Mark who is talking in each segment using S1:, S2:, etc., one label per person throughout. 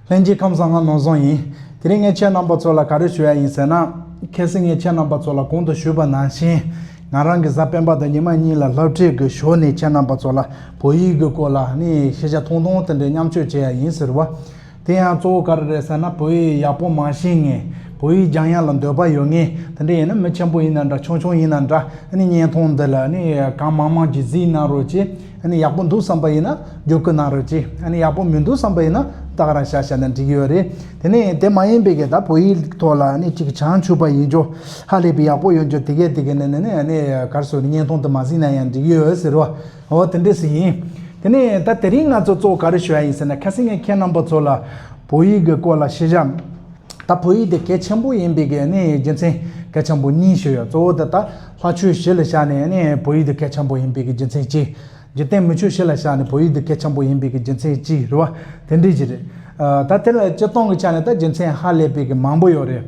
S1: ལྷན་སྐྱེས་ཁམས་བཟང་ང་ནོར་བཟང་ཡིན། དེ་རིང་ངས་ཁྱེད་རྣམ་པ་ཚོ་ལ་ག་རེ་ཞུ་ཡ་ཡིན་ཟེར་ན། གལ་སྲིད་ངས་ཁྱེད་རྣམ་པ་ཚོ་ལ་གོང་དུ་ཞུས་པ་ནང་བཞིན། ང་རང་གི་གཟའ་སྤེན་པ་དང་ཉི་མ་གཉིས་ལ་ལྷབ་ཁྲིད་ཀྱི་ཞོར་ནས་ཁྱེད་རྣམ་པ་ཚོ་ལ་བོད་ཡིག་གི་སྐོར་ལ་ནི་ཤེས་བྱ་ཐུང་ཐུང་དེ་འདྲས་མཉམ་སྤྱོད་བྱེད་ཡ་ཡིན་ཟེར་བ། དེ་ཡང་གཙོ་བོ་ག་རེ་རེད་ཟེར་ན་བོད་ཡིག་ཡག་པོ་མ་ཤེས་ངེས། བོད་ཡིག་སྦྱང་ཡ་ལ་འདོད་པ་ཡོད་ངེས་དེ་འདྲས་ཡིན་ན་མི་ཆེན་པོ་ཡིན་ན་འདྲ་ཆུང་ཆུང་ཡིན་ན་འདྲ་ནི་བརྙན་ཐུང་འདི་ལ་ནི་གང་མང་མང་གྱིས་གཟིགས་གནང་རོགས་ཅེས། ཨ་ཡག་པོ་འདུག་བསམ་པ་ཡིན་ན་བསྒྱུར་བཀོད་གནང་རོགས་གྱིས་ཨ་ཡག་པོ་མི་འདུག་བསམ་པ་ཡིན་ན་བདག་རང་བཞག་བཞག་ན་འགྲིག་གི་ཡོད་རེད་དེ་ནས་དེ་མ་ཡིན་པའི་གེ་ད་བོད་ཡིག་ཐོག་ལ་ཨ་ཅིག་བྱང་ཆུབ་པ་ཡིན་ཅོག་ཧ་ལས་པའི་ཡག་པོ་ཡོང་ཅོག་དེ་གས་དེ་གས་ནས་ནས་ནས་གར་སོ་བརྙན་ཐུང་དུ་མ་གཟིགས་ན་ཡང་འགྲིག་གི་ཡོད་ཟེར་རོ་ཨོ་དེ་འདྲས་སུ་ཡིན་དེ་ནས་ད་དེ་རིང་ང་ཚོ་གཙོ་བོ་ག་རེ་ཞུ་ཡ་ཡིན་ཟེར་ན་ཁ་སེ་ངས་ཁྱེད་རྣམ་པ་ཚོ་ལ་བོད་ཡིག་གི་སྐོར་ལ་ཤེས་བྱ་ད་བོད་ཡིག་དེ་གལ་ཆེན་པོ་ཡིན་པའི་གེ་ནས་རྒྱུ་མཚན་གལ་ཆེན་པོ་གཉིས་ཞུ་ཡོད་གཙོ་བོ་དེ་ད་ལྷ་ཆོས་བྱེད་ལ་བྱ་ནས་ནི་བོད་ཡིག་དུ་སྐད་ཆེན་པོ་ཡིན་པའི་གི་རྒྱུ་མཚན་ཅི། འཇིག་རྟེན་མི་ཆོས་བྱེད་ལ་བྱ་ནི་བོད་ཡིག་དུ་སྐད་ཆེན་པོ་ཡིན་པའི་གི་རྒྱུ་མཚན་ཅི་རེད་བ། དེ་འདྲའི་གྱི་རེད། ད་དེ་ལ་སྤྱི་སྟངས་ཀྱི་ཆ་ནས་ད་རྒྱུ་མཚན་ཧ་ལས་པའི་གི་མང་པོ་ཡོད་རེད།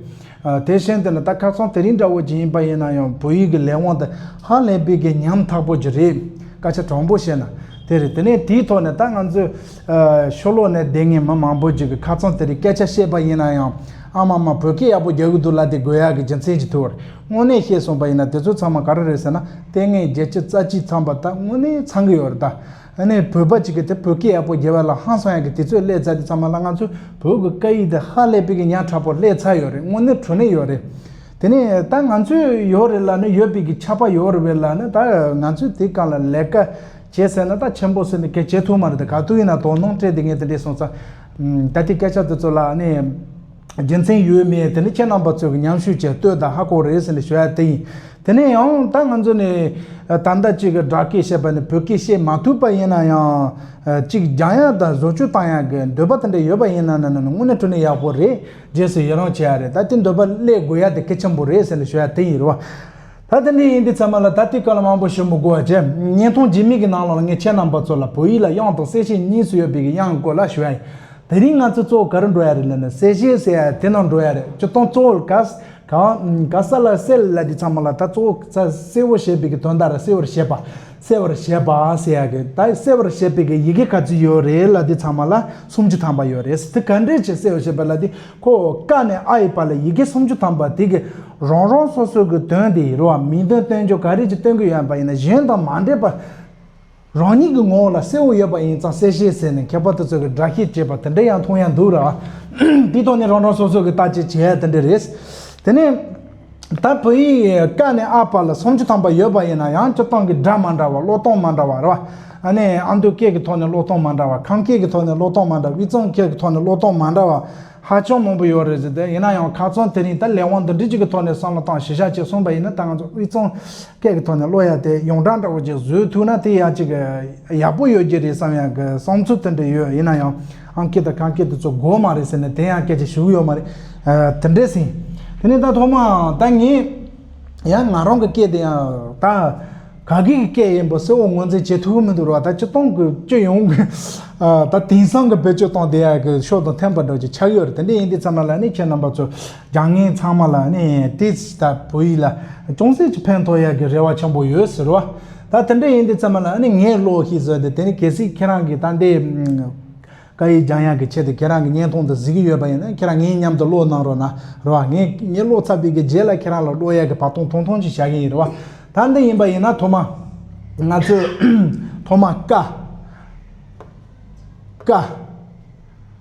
S1: དེ་བཞིན་དུ་ནི་ད་ཁ་སང་དེ་རིང་འདྲ་བོ་གྱི་ཡིན་པ་ཡིན་ན་ཡང་བོད་ཡིག་གི་ལས་དབང་དུ་ཧ་ལས་པའི་གི་ཉམས་ཐག་པོ་གྱི་རེད། སྐད་ཆ་དྲང་པོ་བཤད་ན་དེ་རེད་དེ་ནས་དེའི་ཐོག་ནས་ད་ང་ཚོའི་ཤོ་ལོ་ནས་བསྡད་ངེས་མི་མང་པོ་གྱི་གི་ཁ་ཚང་དེ་རིང་སྐད་ཆ་བཤད་པ་ཡིན་ན་ཡང་ཨ་མ་མ་བོད་སྐད་ཡག་པོ་རྒྱག་གི་འདུག་ལ་དེ་དགོས་ཡ་གི་རྒྱུ་མཚན་གྱི་ཐུགས་དངོས་གནས་ཤེས་སོང་པ་ཡིན་ན་དེ་ཚོ་ཚང་མ་ག་རེ་རེད་ཟེར་ན་ལྟས་ངན་རྒྱལ་སྤྱི་རྩ་ཆེའི་ཚངས་པ་དག་དངོས་གནས་ཚང་གི་ཡོད་རེད་ད། ཨ་ནེ་བོད་པ་གཅིག་གི་དེ་བོད་སྐད་ཡག་པོ་རྒྱལ་བ་ལ་ཧང་སང་ཡག་གི་དེ་ཚོས་ཀླད་རྩ་དེ་ཚང་མ་ལ་ང་ཚོས་བོད་ཀྱི་སྐད་ཡིག་དེ་ཧ་ལས་པའི་གི་ཉག་ཕྲ་པོ་ཀླད་ཚ་ཡོད་རེད་དངོས་གནས་དྲོ་ནས་ཡོད་རེད། དེ་ནས་ད་ང་ཚོས་ཡོད་རེད་ལ་ནི་ཡོད་པའི་གི་ཆགས་པ་ཡོད་རེད་བས་ལ་ནི་ད་ང་ཚོས་དེ་གང་ལ་ལས་ཀ་བྱེད་ཟེར་ན་ད་ཆེན་པོ་ཟེར་ནས་གལ་བྱེད་ཐུབ་མ་རེད་ད་ག་དུས་ཡིན་ན་དོ་སྣང་སྤྲད་དེ་ངས་དེ་འདྲས་སོང་ཙང། ད་དེ་སྐད་ཆ་དེ་ཚོ་ལ་ཨ་ནེ། རྒྱུ་མཚན་ཡོད་མེད་དེ་ནི་ཁྱེད་རྣམ་པ་ཚོས་ཀྱི་མཉམ་ཞུགས་བྱས་ལྟོས་དང་ཧ་གོ་རེད་ཟེར་ནས་ཞུ་ཡག་དེ་ཡིན་དེ་ནས་ཡང་ད་ང་ཚོ་ནི་ད་ལྟ་གཅིག་གི་སྦྲགས་སྐད་བཤད་པ་ནི་བོད་སྐད་བཤད་མ་ཐུབ་པ་ཡིན་ན་ཡང་གཅིག་སྦྱང་ཡག་དང་བཟོ་བཅོས་བཏང་ཡག་གི་འདོད་པ་དེ་འདྲ་ཡོད་པ་ཡིན་ན་ན་ནི་དངོས་གནས་དྲུ་ནས་ཡག་པོ་རེད་རྗེས་སུ་ཡི་རང་བྱེད་ཡག་རེད་ད་དེ་འདོད་པ་སླད་དགོས་ཡག་དེ་གལ་ཆེན་པོ་རེད་ཟེར་ནས་ཞུ་ཡག་དེ་ཡིན་རེད་བ། ད་དེ་འདྲའི་ཡིན་དུས་ཚང་མ་ལ་ད་ལྟའི་སྐབས་ལ་མང་པོ་ཞིབ་མོ་གོ་བ་བྱས། བརྙན་ཐུང་རྗེས་མིག་གི་ནང་ལོགས་ལ་ངས་ཁྱེད་རྣམས་པ་ཚོ་ལ་བོད་ཡིག་ལ་དབྱངས་དང་གསལ་བྱེད་གཉིས་སུ་ཡོད་པའི་གི་དབྱངས་སྐོར་ལ་ཞུ་ཡ་ཡིན། དེ་རིང་ང་ཚོས་གཙོ་བོ་ག་རེ་འགྲོ་ཡ་རེད་ལབ་ན་གསལ་བྱེད་ཟེར་ཡ་དེ་ནང་འགྲོ་ཡ་རེད་སྤྱིར་བཏང་གཙོ་བོར་ག་ག་ས་ལ་གསལ་ལབ་དུས་ཚང་མ་ལ་ད་གཙོ་བོ་ས་གསལ་བོ་བྱེད་པའི་གི་དོན་དག་རེད་གསལ་བོར་བྱེད་པ་གསལ་བར་བྱེད་པ་ཟེར་ཡ་གི་ད་གསལ་བར་བྱེད་པའི་གི་ཡི་གེ་ག་ཚོད་ཡོད་རེད་ལབ་དུས་ཚང་མ་ལ་སུམ་ཅུ་ཐམ་པ་ཡོད་རེད་དེ་ག་འདྲས་ཀྱི་གསལ་བར་བྱེད་པ་ལབ་དུས། ཁོ་བོ་ཀ་ནས་ཨ་ཡི་བར་ལ་ཡི་གེ་སུམ་ཅུ་ཐམ་པ་དེ་གིས་རང་རང་སོ་སོའི་གི་དོན་དེའི་རུ་བ་མིང་དོན་སྟོན་ཕྱོགས་ག་རེ་གྱི་སྟོན་གི་ཡོད་པ་ཡིན་ན་གཞན་དང་མ་འདྲེས་པར་རང་ཉིད་ཀྱི་ངོ་བོ་ལ་གསལ་བོ་ཡོད་པ་ཡིན་ཙང་གསལ་བྱེད་ཟེར་ནས་ཁྱད་པར་དུ་ཚོད་ཀྱི་སྒྲ་བཤད་ཅེས་པ་དེ་འདྲ་ཡང་མཐོང་ཡང་འདུག་ར་བའི་དོན་ནི་རང་རང་སོ་སོའི་གི་ལྟ་བྱེད་བྱེད་དེ་འདྲ་རེད། དེ་ནས། ད་བོད་ཡིག་ཀ་ནས་ཨ་བར་ལ་སུམ་ཅུ་ཐམ་པ་ཡོད་པ་ཡིན་ན་ཡང་སྤྱིར་བཏང་གི་སྒྲ་མ་འདྲ་བ་བློ་གཏོང་མ་འདྲ་བ་རེད་བ། ཨ་ནི་ཨ་མདོའི་སྐད་ཀྱི་ཐོག་ནས་བློ་གཏོང་མ་འདྲ་བ་ཁམས་སྐད་ཀྱི་ཐོག་ནས་བློ་གཏོང་མ་འདྲ་དབུས་གཙང་སྐད་ཀྱི་ཐོག་ནས་བློ་གཏོང་མ་འདྲ་བ་ཧ་ཅང་མང་པོ་ཡོད་རེད་ཟེར་ཏེ་ཡིན་ན་ཡང་ཁ་ཚོན་དེ་རིང་ད་ལས་དབང་འདི་འདྲི་གཅིག་གི་ཐོག་ནས་བསམ་བློ་བཏང་ཞེ་བཞག་བྱས་གསུངས་པ་ཡིན་ན་ད་ང་ཚོ་དབུས་གཙང་སྐད་ཀྱི་ཐོག་ནས་བློ་ཡ་དེ་ཡོངས་གྲགས་འདྲ་བོ་ཅིག་བཟོས་ཐུག་ན་དེ་ཡ་གཅིག་ཡག་པོ་ཡོད་རྒྱུ་རེད་བསམ་ཡག་གི་བསམ་ཚུལ་དེ་འདྲ་ཡོད་ཡིན་ན་ཡང། ཨང་ཀི་དང་གངས་སྐྱིད་དུ་ཚོ་གོ་མ་རེད་ཟེར་ནས་དེ་ཡང་སྐད་ཆ་ཞུ་གི་ཡོད་མ་རེད། དེ་འདྲས་ཟིན། དེ་ནས་ད་ཐོག་མ་ད་ངས་ཡང་ང་རང་གི་སྐད་དེ་ཡང་ད་ག་གི་གི་སྐད་ཡིན་པ་སེ་འོ་ངོས་འཛིན་བྱེད་ཐུབ་ཀི་མི་འདུག་རོགས་ད་སྤྱི་སྟོང་གི་སྤྱི་ཡོངས་ཀི་ད་དེང་སང་གི་བོད་སྤྱི་སྟོང་དེ་ཡང་གི་ཤོག་དང་འཐེན་པ་འདྲ་ཆགས་ཡོད་རེད་དེ་འདྲས་ཡིན་དེ་ཚང་མ་ལ་ནི་ཁྱེད་རྣམ་པ་ཚོ་རྒྱ་ངན་ཚང་མ་ལ་ནི་དེ་ལྟ་བུ་ཡིད་ལ་ཅུང་ཟད་ཀྱི་ཕན་ཐོགས་ཡག་གི་རེ་བ་ཆེན་པོ་ཡོད་ཟེར་བ། ད་དེ་འདྲ་ཡིན་དུས་ཚང་མ་ལ་ནི་ངའི་བློ་ཞིག་བཟོས་ཏེ་དེ་ནི་གལ་སྲིད་ཁྱེད་རང་གིས་ད་ལྟའི་བཀའ་ཡི་རྒྱང་ཡག་གི་ཆེད་དུ་ཁྱེད་རང་གི་བརྙན་ཐུང་དུ་གཟིགས་ཀྱི་ཡོད་པ་ཡིན་ན་ཁྱེད་རང་ངའི་མཉམ་དུ་ཀློག་གནང་རོགས་ན་རེ་བ། ངས་ངའི་ཀློག་ཚར་བས་ཀྱི་རྗེས་ལ་ཁྱེད་རང་ལ་ཀློག་ཡག་གི་བར་སྟོང་ཐུང་ཐུང་ཅིག་བྱ་གི་ཡིན་རེ་བ། ད་འདི་ཡིན་པ་ཡིན་ན་ཐོག་མ་ང་ཚོས་ཐོག་མ་ཀ། ཀ།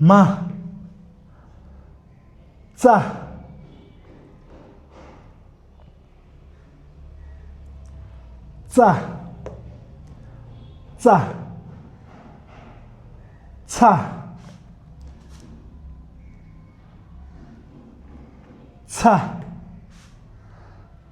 S1: མ། རྩ། རྩ། ཚ། ཚ།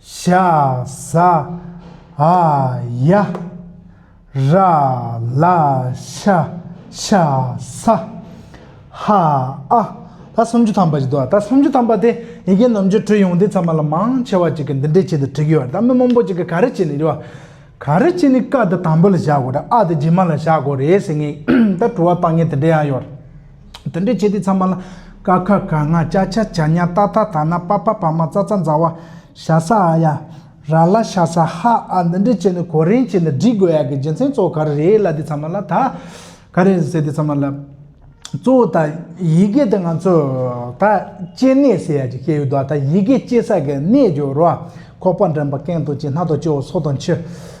S1: ཤཱ་ཟ་ཨ་ཡ། ར་ལ་ཤ་ཤ་ས་ཧ་ཨ། ད་སུམ་ཅུ་ཐམ་པ་ཞིག་འདུག་ད་སུམ་ཅུ་ཐམ་པ་དེ་ཡི་གེ་ནམ་རྒྱུད་དྲུག་ཡོང་དུས་ཚང་མ་ལ་མང་ཆེ་བ་ཅིག་གིས་འདི་འདྲའི་ཆེད་དུ་བྲིས་ཀྱི་ཡོད་རེད་ད་མི་མང་པོ་ཅིག་གིས་ག་རེ་བྱས་ནས་བྲིས་པ། ག་རེ་བྱས་ནས་ཀ་དེ་དང་པོ་ལ་བཞག་དགོས་རེད་ཨ་དེ་རྗེས་མ་ལ་བཞག་དགོས་རེད་ཟེར་ངེས་ད་བྲོ་བ་སྟངས་ངན་དེ་འདྲ་ཡང་ཡོད་རེད། དེ་འདྲའི་བྱེད་གཏེ་ཚང་མ་ལ། ཀ་ཁ་ག་ང་ཅ་ཆ་བྱ་ཉ་ཏཱ་ཐ་ཐ་ན་པ་ཕ་ཕ་མ་ཙ་ཙ་མཛའ་བ། ཤ་ས་ཨ་ཡ། ར་ལ་ཤ་ས་ཧ་ཨ་འདི་འདྲའི་བྱེད་ནི་གོ་རིན་བྱེད་ནི་བསྒྲིག་དགོས་ཡག་གི་རྒྱུ་མཚན་གཙོ་བོ་ག་རེ་རེད་ལ་འདི་ཚང་མ་ལ་ད། ག་རེ་རེད་ཟེར་འདི་ཚང་མ་ལ། གཙོ་བོ་ད་ཡི་གེ་འདི་ང་ཚོས་ད་སྐྱེ་གནས་ཟེར་ཡག་གི་སྐྱེ་ཡུལ་དུ་ད་ཡི་གེ་སྐྱེ་ས་གི་གནས་ཀྱི་རུ། ཁོག་པ་འགྲམ་པ་སྐེང་དང་ལྕེ་སྣ་དང་ལྕེ་བོ་སོ་དང་མཆུ།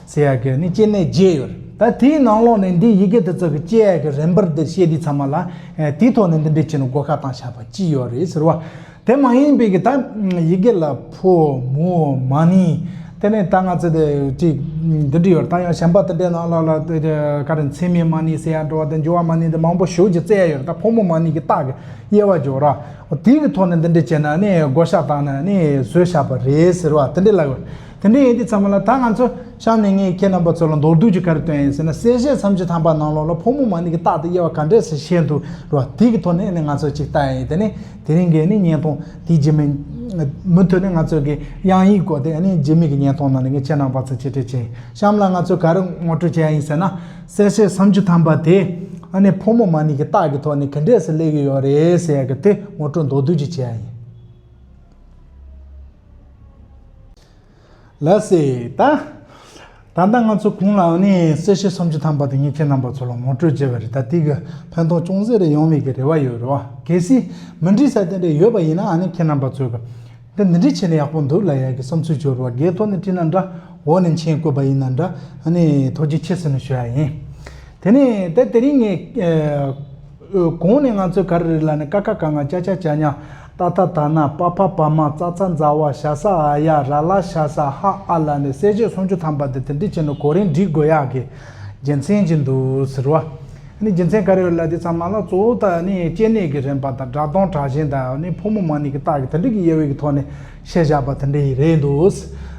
S1: ཚེ་ཡར་གྱི་ནི་སྐྱེ་གནས་བརྒྱད་ཡོད། ད་དེའི་ནང་ལོགས་ནས་འདིའི་ཡི་གེ་དེ་ཚོ་གི་སྐྱེ་ཡག་གི་རན་པར་འདིར་བཤད་དུས་ཚང་མ་ལ། དེའི་ཐོག་ནས་འདི་འདྲའི་ཆེ་ནུ་སྒོ་ཁ་དང་ཞགས་པ་ཅི་ཡོད་རེད་ཟེར་བ། དེ་མ་ཡིན་པའི་གི་ད་ཡི་གེ་ལ་ཕོ་མོ་མ་ནི། དེ་ནས་ད་ང་ཚོས་དེ་ཅིག་འདི་འདྲི་ཡོད་ད་ཡང་གཞན་པ་དེ་འདྲའི་ནང་ལོགས་ལ་དེ་ཀྱི་ཀ་རེ་མཚན་མའི་མ་ནི་ཟེར་ཡག་འགྲོ་བ་དེ་འགྱུར་བ་མ་ནི་དེ་མང་པོ་ཞུགས་ཀྱི་བརྩེ་ཡག་ཡོད་ད་ཕོ་མོ་མ་ནི་གི་རྟགས་ཀྱི་དབྱེ་བ་འཇོག་རག། དེའི་གི་ཐོག་ནས་འདི་འདྲི་བྱས་ན་ནི་སྒོ་ཞགས་དང་ནི་ཟོལ་ཞགས་པ་རེད་ཟེར་བ་དེ་འདྲི་ལ། དེ་འདྲ་ཡིན་དུས་ཚང་མ་ལ་ད་ང་ཚོ་གཤམ་ནས་ངས་ཁྱེད་རྣམ་པ་ཚོ་ལ་མདོར་བསྡུས་ཀྱི་ག་རེ་བཏོན་ཡིན་ཟེར་ན་གསལ་བཤད་མཚམས་ཀྱི་ཐང་པ་ནང་ལོགས་ལ་ཕོ་མོ་མ་ནི་གི་རྟག་ཏུ་དབྱེ་བ་ག་འདྲས་སུ་བཤད་འདུག་རོ་བ་དེ་གི་ཐོག་ནས་ནི་ང་ཚོ་ཅིག་བལྟ་ཡ་ཡིན་དེ་ནི་དེ་རིང་གི་ནི་བརྙན་ཐུང་དེའི་རྗེས་མའི་མུ་མཐུད་ནས་ང་ཚོ་གི་དབྱངས་ཡིག་སྐོར་དེ་ནི་རྗེས་མའི་གི་བརྙན་ཐུང་ནང་ནས་ངས་ཁྱེད་རྣམ་པ་ཚོ་གཅེས་སྤྲས་བྱས་གཤམ་ལ་ང་ཚོས་ག་རེ་ངོ་སྤྲོད་བྱས་ཡ་ཡིན་ཟེར་ན་གསལ་བཤད་མཚམས་ཀྱི་ཐང་པ་དེ་ནི་ཕོ་མོ་མ་ནི་གི་རྟག་གི་ཐོག་ནས་གི་འདྲས་སུ་སླེབས་ཡོད་ཡོད་རེད་ཟེར་ཡ་གི་དེ་ངོ་སྤྲོད་མདོར་བསྡུས་ཀྱི་བྱས་ཡ་ཡིན། ལ་སྲིད་ད། ད་ལྟ་ང་ཚོ་གུང་ལའང་ནི་སྲིད་ཞི་སུམ་ཅུ་ཐམ་པ་དེ་ཉིད་ཁྱེད་རྣམ་པ་ཚོ་ལ་ངོ་སྤྲོད་བྱེད་པར་རེ་ད་ཏིག་གི་ཕན་ཐོག་ཅུང་ཟད་རེ་ཡོང་མེད་ཀྱི་རེ་བ་ཡོད་རེད་བ། གལ་སྲིད་མི་འགྲིག་ས་དེ་འདྲ་ཡོད་པ་ཡིན་ན་ནི་ཁྱེད་རྣམ་པ་ཚོས་ཀྱི། འདི་འདི་འདྲ་བྱས་ན་ཡག་པོ་འདུག་ལ་ཡག་གི་བསམ་ཚུལ་བཅོས་རེ་བ་འགས་ཐོག་ནས་བཀྲིས་ན་འདྲ་འོག་ནས་མཆན་བཀོད་པ་ཡིན་ན་འདྲ་ཨ་ནི་ཐོག་ཅིག་ཁྱེད་ཟིན་ནས་ཞུ་ཡ་ཡིན། དེ་ནས་ད་དེ་རིང་ངས། ཨོའོ་གོང་ནས་ང་ཚོས་ག་རེ་རེ་ལ་ནི་ཀ་ཁ་ག་ང་ཅ་ཅ་ཅ་ཉ་ཏཱ་ཐཱ་ཐཱ་ན་པ་ཕ་པ་མ་ཙ་ཙ་མཛའ་བ་ཤ་ས་ཨ་ཡ་ར་ལ་ཤ་ས་ཧ་ཨ་ལ་ནི་གསལ་བྱེད་སུམ་ཅུ་ཐམ་པ་དེ་དེ་འདྲི་བྱེད་ནི་གོ་རིམ་འབྲི་དགོས་ཡག་གི་རྒྱལ་མཚན་གྱི་འདུག་ཟེར་བ་ནི་རྒྱལ་མཚན་ག་རེ་རེ་ལ་དེ་ཚང་མ་ལ་གཙོ་བོ་དག་ནི་སྐྱེ་གནས་ཀྱི་རན་པ་དང་དགྲ་གདོང་དྲག་ཞན་དག་ནི་ཕོ་མོ་མ་ནི་གི་དག་གི་དེ་འདྲི་གི་དབྱེ་བས་ཀྱི་ཐོག་ནས་ཞེས་བཞག་པ་དེ་འདྲ་ཡིན་རེད་འདུག།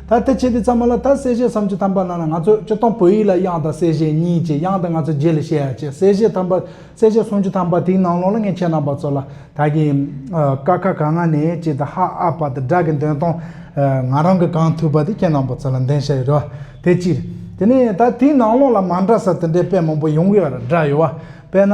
S1: ད་ལྟ་བྱས་དེ་ཚང་མ་ལ་ད་གསལ་བཤད་བསམ་གྱི་དམ་པ་ནང་ན་ང་ཚོས་སྤྱི་སྟོང་བོད་ཡིག་ལ་དབྱངས་དང་གསལ་བཤད་གཉིས་ཀྱི་དབྱངས་དེ་ང་ཚོས་རྗེས་ལ་བཤད་ཡ་ཆེ་གསལ་བཤད་དམ་པ་གསལ་བཤད་གསུང་གྱི་དམ་པ་དེའི་ནང་ལོགས་ལ་ངས་ཁྱེད་རྣམ་པ་ཚོ་ལ་ད་གིན་ཀ་ཁ་ག་ང་ནས་ཅི་ད་ཧ་ཨ་བ་ད་དགྲ་གི་འདོན་སྟོང་ང་རང་གི་གང་ཐུབ་པ་དེ་ཁྱེད་རྣམ་པ་ཚོ་ལ་འདོན་བྱས་ཡོད་རེད་བ་དེ་གཅིག་རེད་དེ་ནས་ད་དེའི་ནང་ལོགས་ལ་མ་འདྲ་ས་དེ་འདྲའི་དཔེ་མང་པོ་ཡོང་གི་ཡོད་རེད་འདྲ་ཡོད་བ་དཔེ་ན།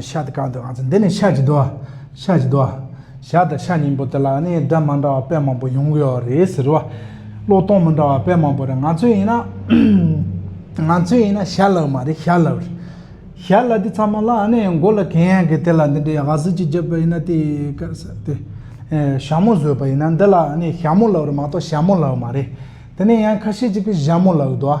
S1: ཤ་དེ་གང་འདུག་ང་ཚོ་འདི་ནས་ཤ་ཅིག་འདུག་ཨ་ཤ་ཅིག་འདུག་ཨ་ཞག་དང་ཤ་གཉིས་པོ་དེ་ལ་ནི་སྒྲ་མ་འདྲ་བ་དཔེ་མང་པོ་ཡོང་གི་ཡོད་རེད་ཟེར་བ་བློ་གཏོང་མི་འདྲ་བ་དཔེ་མང་པོ་རེད་ང་ཚོས་ཡིན་ན་ང་ཚོས་ཡིན་ན་ཤ་ལབ་མ་རེད་ཤ་ལབ་རེད་ཤ་ལབ་དེ་ཚང་མ་ལ་ནི་མགོ་ལ་གན་ཡང་གི་དེ་ལ་འདི་འདྲའི་ཧ་ཟིལ་གྱིས་བརྒྱབ་པ་ཡིན་ན་དེ་སྐད་ཟེར་དེ་ཞྭ་མོ་བཟོས་པ་ཡིན་ན་འདི་ལ་ནི་ཞྭ་མོ་ལབ་རེད་མ་གཏོགས་ཞྭ་མོ་ལབ་མ་རེད་དེ་ནས་ཡང་ཁ་ཤས་ཀྱིས་ཀྱི་བཞྭ་མོ་ལབ་འདུག་ཨ།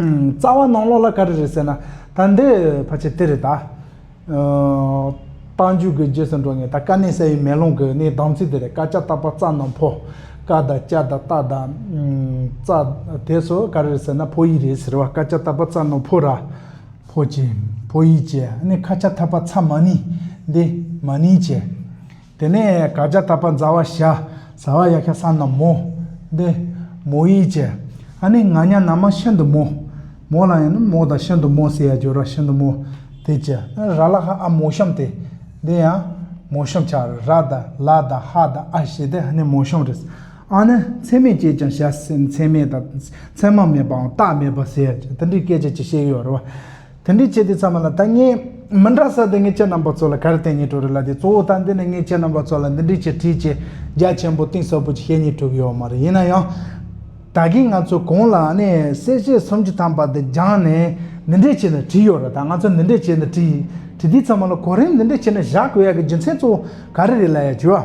S1: རྩ་བ་ནང་ལོགས་ལ་ག་རེ་རེད་ཟེར་ན། ད་འདི་ཕལ་ཆེར་དེ་རེད་ད། རྟ་མཇུག་གི་རྗེས་སུ་འགྲོ་ངེས་ད་དཀའ་གནད་གསལ་བའི་མེ་ལོང་གི་ནི་གདངས་ཚུལ་དེ་རེད་ཀ་ཅག་བཏགས་པ་རྩ་རྣམས་ཕོ། ཀ་དང་ཅག་དང་རྟ་དང། རྩ། དེ་སོ་ག་རེ་རེད་ཟེར་ན་ཕོ་ཡིག་རེད་ཟེར་བ་ཀ་ཅག་བཏགས་པ་རྩ་རྣམས་ཕོ་ར། ཕོ་ཅེ། ཕོ་ཡིག་ཅེ་ནི་ཁ་ཆ་འཐབ་པ་ཚ་མ་ནི་འདི་མ་ནི་ཅེ། དེ་ནས་ག་བྱ་ད་པ་མཛའ་བ་བྱ། བཟའ་བ་ཡ་ཁྱ་ས་ན་མོ། འདི། མོ་ཡི་བྱ། ཨ་ནི་ང་ཉ་ན་མ་ཤིན་ཏུ་མོ། མོ་ལ་ཡང་ན་མོ་དང་ཤིན་ཏུ་མོ་ཟེར་ཡ་འགྱུར་ར་ཤིན་ཏུ་མོ། དེ་བྱ། ར་ལ་ཧ་ཨ་མོ་ཤོམ་སྟེ། འདི་ཡང། མོ་ཤོམ་བྱ། ར་དང་ལ་དང་ཧ་དང་ཨ་བྱས་ཏེ་ཧ་ནི་མོ་ཤོམ་རེད། ཨ་ནི་མཚན་མེད་ཅེས་ཀྱང་བྱ། མཚན་མེད་དང། མཚན་མ་མེད་པའང་རྟགས་མེད་པ་ཟེར་ཡ་འགྱུར། འདི་འདྲའི་སྐད་ཆ་ཅིག་བཤད་ཀྱི་ཡོད་རེད་བ། དེ་འདྲའི་ཆེ་དེ་ཙམ་མ་ལ་ད་ངས་མི་འདྲ་ས་དེ་ངས་ཁྱེད་རྣམ་པ་ཚོ་ལ་ག་རེ་བསྟན་ཉེ་དྲོ་རེ་ལ་དེ་གཙོ་བོ་ད་འདི་ནས་ངས་ཁྱེད་རྣམ་པ་ཚོ་ལ་འདི་འདྲའི་ཆེ་ཁྲིའི་ཆེ་རྒྱ་ཆེན་པོ་གཏིང་ཟབ་པོ་ཅིག་བཤད་ཉེ་ཐུབ་ཡོད་མ་རེད་ཡིན་ན་ཡང། ད་གིན་ང་ཚོ་གོང་ལ་ནས་གསལ་བཤད་སུམ་ཅུ་ཐམ་པ་འདི་སྦྱངས་ནས་འདི་འདྲའི་ཆེ་འདི་བྲིས་ཡོད་རེད་ད་ང་ཚོ་འདི་འདྲའི་ཆེ་འདི་བྲིས་བྲིས་དེ་ཙམ་མ་ལ་གོ་རིམ་འདི་འདྲའི་ཆེ་འདྲ་བཞག་དགོས་ཡག་གི་རྒྱུ་མཚན་གཙོ་བོ་ག་རེ་རེད་ལ་ཡ་བྱུས་ཨ།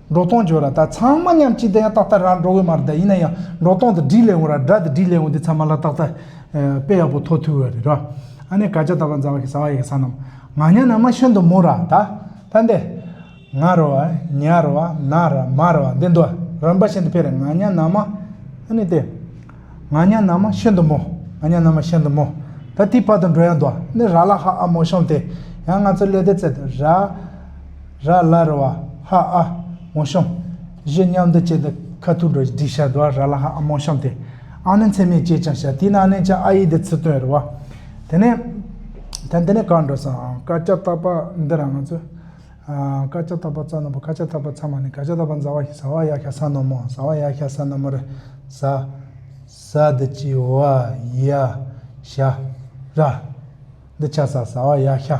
S1: འབྲོག་སྟོང་བརྗོད་ར་ད་ཚང་མ་མཉམ་གཅིག་ལྡན་ཡང་ཏག་ཏག་ར་འབྲོག་ཡོད་མ་རེད་ད་ཡིན་ན་ཡང་འབྲོག་སྟོང་དུ་བྲིས་ལེ་འོང་ར་སྦྲ་དུ་བྲིས་ལེ་འོང་དེ་ཚང་མ་ལ་ཏག་ཏག་དཔེ་ཡག་པོ་ཐོ་ཐུག་ཡོད་རེད་ར། ཨ་ནེ་ག་ཅག་ད་བ་འཛའ་བ་ཞིག་ཟ་བ་ཡེ་ག་ས་རྣམས་ང་ཉ་ན་མ་ཤོན་དུ་མུ་ར་ད་ད་འདེ། ང་ར་བ་ཉ་ར་བ་ན་ར་མ་ར་བ་འདེ་འདུ་ར་འབའ་ཤན་དུ་ཕེ་རེ་ང་ཉ་ན་མ་ཨ་ནེ་ཏེ། ང་ཉ་ན་མ་ཤོན་དུ་མོ་ང་ཉ་ན་མ་ཤན་དུ་མོ་ད་དེའི་བར་དུ་འགྲོ་ཡང་འདུ་ཨ་ནེ་ར་ལ་ཧ་ཨ་མོ་ཤོང་དེ་ཡང་ང་ཚོ་ལེ་དེ་ཚེ་དུ་ར། ར་ལ་རི་བ་ཧ་ཨ་མོ་ཤོམ། བཞི་མཉམ་དུ་བཅས་ཏེ་ཁ་ཐུག་འགྲོ་སྡིག་བྱ་དུ་བ་ར་ལ་ཧ་ཨ་མོ་ཤོམ་སྟེ། ཨ་ནི་མཚན་མའི་བཅས་ཀྱང་བྱ་དེས་ན་ཨ་ནི་ཅང་ཨ་ཡིག་དེ་ཚུར་སྟོན་རི་བ། དེ་ནས། ད་འདི་ནས་གར་འགྲོ་སོང་དཀར་ལྕགས་རྟག་པ་འདི་རང་ང་ཚོས། དཀར་ལྕགས་རྟག་པ་རྩ་ནོར་བུ་ཁ་ལྕགས་རྟག་པ་ཚ་མ་ནི་གར་ལྕགས་རྟག་པ་མཛའ་བ་ཞིག་ཟ་བ་ཡ་ཤ་ས་ནོར་མོ་ཟ་བ་ཡ་ཤ་ས་ནོར་མོ་རི་ཟ། ཟ་འདི་བཅས་བ་ཡ་ཤ་ར། འདི་ཆ་ས་ཟ་བ་ཡ་ཤ།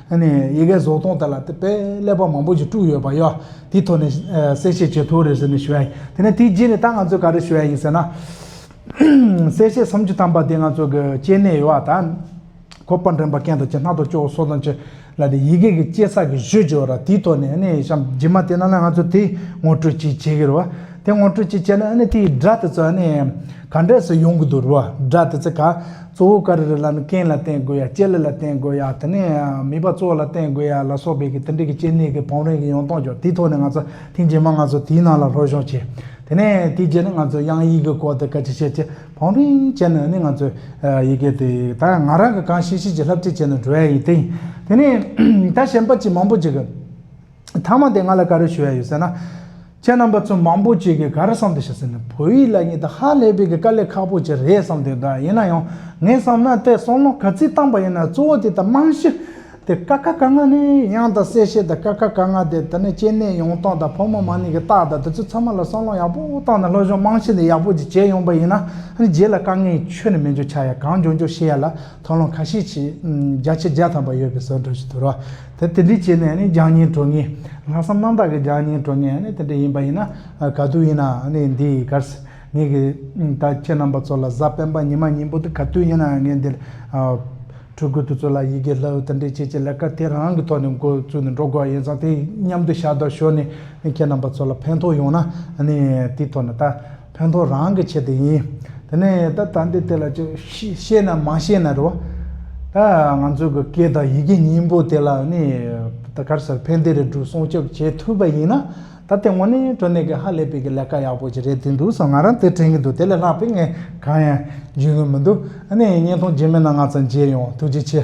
S1: ནས་ཡི་གེ་བཟོ་སྟངས་དེ་ལ་དེ་དཔེ་ཀླད་པ་མང་པོ་ཞིག་དཀྲུགས་ཡོད་པ་ཡོད་དེའི་ཐོག་ནས་གསལ་བཤད་བྱེད་ཐུབ་རེད་ཟེར་ནས་ཞུ་བ་ཡིན་དེ་ནས་དེའི་རྗེས་ནས་ད་ང་ཚོས་ག་རེ་ཞུ་བ་ཡིན་ཟེར་ན། གསལ་བཤད་སུམ་ཅུ་ཐམ་པ་དེ་ང་ཚོ་གི་སྐྱེ་གནས་ཡོད་བ་དང། ཁོ་པར་འགྲེམས་པ་མཁན་དང་བཅས་སྣ་ཐོག་སྐྱོ་བོ་སོགས་དང་བཅས་ལ་དེ་ཡི་གེ་གི་སྐྱེ་ས་གི་གཞི་བཅོལ་ར་དེའི་ཐོག་ནས་ནས་གཤམ་རྗེས་མ་དེ་ན་ལ་ང་ཚོ་དེ་ངོ་སྤྲོད་ཅིག་བྱེད་ཀྱི་རེད་བ། དེ་ངོ་སྤྲོད་ཅིག་བྱས་ན་ནས་དེའི་སྒྲ་དེ་ཚོ་ནས། ག་འདྲས་སུ་ཡོང་གི་འདུག་རོ་སྒྲ་དེ་ཚོ་ག་གཙོ་བོ་ག་རེ་རེ་ལ་ནི་རྐན་ལ་བརྟེན་དགོས་ཡ་ལྕེ་ལི་ལ་བརྟེན་དགོས་ཡ་དེ་ནས་མིད་པ་གཙོ་བོ་ལ་བརྟེན་དགོས་ཡ་ལ་སོགས་པའི་གི་དེ་འདྲའི་གི་སྐྱེ་གནས་གི་བང་རིམ་གི་ཡོང་སྟངས་ཀྱང་དེའི་ཐོག་ནས་ང་ཚོ་ཐེངས་རྗེས་མ་ང་ཚོ་དེའི་ནང་ལ་ལྷོད་ཤོག་བྱས་དེ་ནས་དེའི་རྗེས་ནི་ང་ཚོ་དབྱངས་ཡིག་གི་སྐོར་དེ་ག་ཅི་བྱས་ཅི་བང་རིམ་བྱས་ནས་ནི་ང་ཚོས་ཡི་གེ་དེ་ད་ཡང་ང་རང་གི་གང་ཤེས་ཤེས་ཀྱི་ལྷབ་ཁྲིད་བྱས་ནས་འགྲོ་ཡ་ཡིན་ཏེ་དེ་ནས་ད་གཞན་པ་ཅི་མང་པོ་ཅིག་གི། ཐ་མ་དེ་ང་ལ་ག་རེ་ཞུ་ཡ་ཡོད་ཟེར་ན། ཁྱེད་རྣམ་པ་ཚོ་མང་པོ་ཅིག་གིས་ག་རེ་བསམ་འདུག་ཤག་ཟེར་ན་བོད་ཡིག་ལ་ཉིད་དུ་ཧ་ལས་པའི་དཀའ་ལས་ཁག་པོ་ཅིག་རེད་བསམ་འདུག་གདའ་ཡིན་ན་ཡང་ངས་བསམ་ན་དེ་གསུང་ལུང་ག་ཚིག་བཏང་པ་ཡིན་ན་གཙོ་བོ་དེ་དང་རྨང་གཞི་དེ་ཀ་ཁ་ག་ང་ནི་དབྱངས་དང་གསལ་བཤད་དང་ཀ་ཁ་ག་ང་དེ་དེ་ནི་སྐྱེ་གནས་ཡོང་སྟངས་དང་ཕོ་མོ་མ་ནིང་གི་རྟགས་དང་དེ་ཚོ་ཚང་མ་ལ་གསང་ལུང་ཡག་པོ་བཏང་ནས་སློབ་སྦྱོང་རྨང་གཞི་དེ་ཡག་པོ་ཅིག་བྱས་ཡོང་པ་ཡིན་ན་རྗེས་ལ་དཀའ་ངལ་ཁྱོན་ནས་མི་འབྱུང་ཆ་ཡ་གང་འབྱུང་འབྱུང་ཤེས་ཡ་ལ། མཐོང་ལམ་ཁ་ཤས་ཀྱིས་རྒྱ་ཆེ་བརྒྱ་ཐམ་པ་ཡོད་པའི་ཟོལ་བསྒྲགས་ཞིག་དོར་བ། དེ་འདི་བྱས་ནས་རྒྱང་རྙིང་གྲོལ་ངེས། ལྷག་བསམ་རྣམ་དག་གི་རྒྱང་རྙིང་གྲོལ་ངེས་དེ་འདྲ་ཡིན་པ་ཡིན་ན་ག་དུས་ཡིན་ན་འདི་གར་ངེད་ཀྱི་ད་ཁྱེད་རྣམ་པ་ཚོ་ལ་གཟའ་སྤེན་པ་ཉི་མ་སྙིང་པོ་འདི་ག་དུས་ཡིན་ན་ངེད་འདིར་ཕྲུ་གུ་དེ་ཚོ་ལ་ཡི་གེ་ལྷ་འོད་དེ་འདྲའི་ཆེད་ཀྱི་ལས་ཀ་དེ་རང་གི་ཐོག་ནས་འགོ་བཙུགས་ནས་འགྲོ་དགོས་ཡིན་ཙང་དེ་མཉམ་དུ་ཞབས་བརྡར་ཞུ་ནས་ཁྱེད་རྣམ་པ་ཚོ་ལ་ཕན་ཐོགས་ཡོང་ན་དེའི་ཐོག་ནས་ད། ཕན་ཐོགས་རང་གི་ཆེད་དུ་ཡིན། དེ་ནས་ད་ལྟ་འདི་དེ་ལ་ཅི། ཤེས་ན་མ་ཤེས་ན་རེད། ད་ང་ཚོས་གི་སྐད་དང་ཡི་གེ་གཉིས་པོ་དེ་ལ་ནི། ད་གར་སར་ཕན་བདེ་རིགས་དྲུག་སྲུང་སྐྱོབ་བྱེད་ཐུབ་པ་ཡིན་ན། ད་དེ་སྔོན་ནི་གྲོ་ནས་གི་ཧ་ལས་པའི་གི་ལས་ཀ་ཡག་པོ་ཅིག་རེད་དུས་འདུག་བསམ་ང་རང་དེ་དྲན་གི་འདུག་དེ་ལས་ལྷག་པའི་ངས་གང་ཡང་བརྗོད་ཀྱི་མི་འདུག་ཨ་ནི་བརྙན་ཐུང་རྗེས་མེད་ན་ང་ཚ་མཇལ་ཡོང་ཐུགས་རྗེ་ཆེ།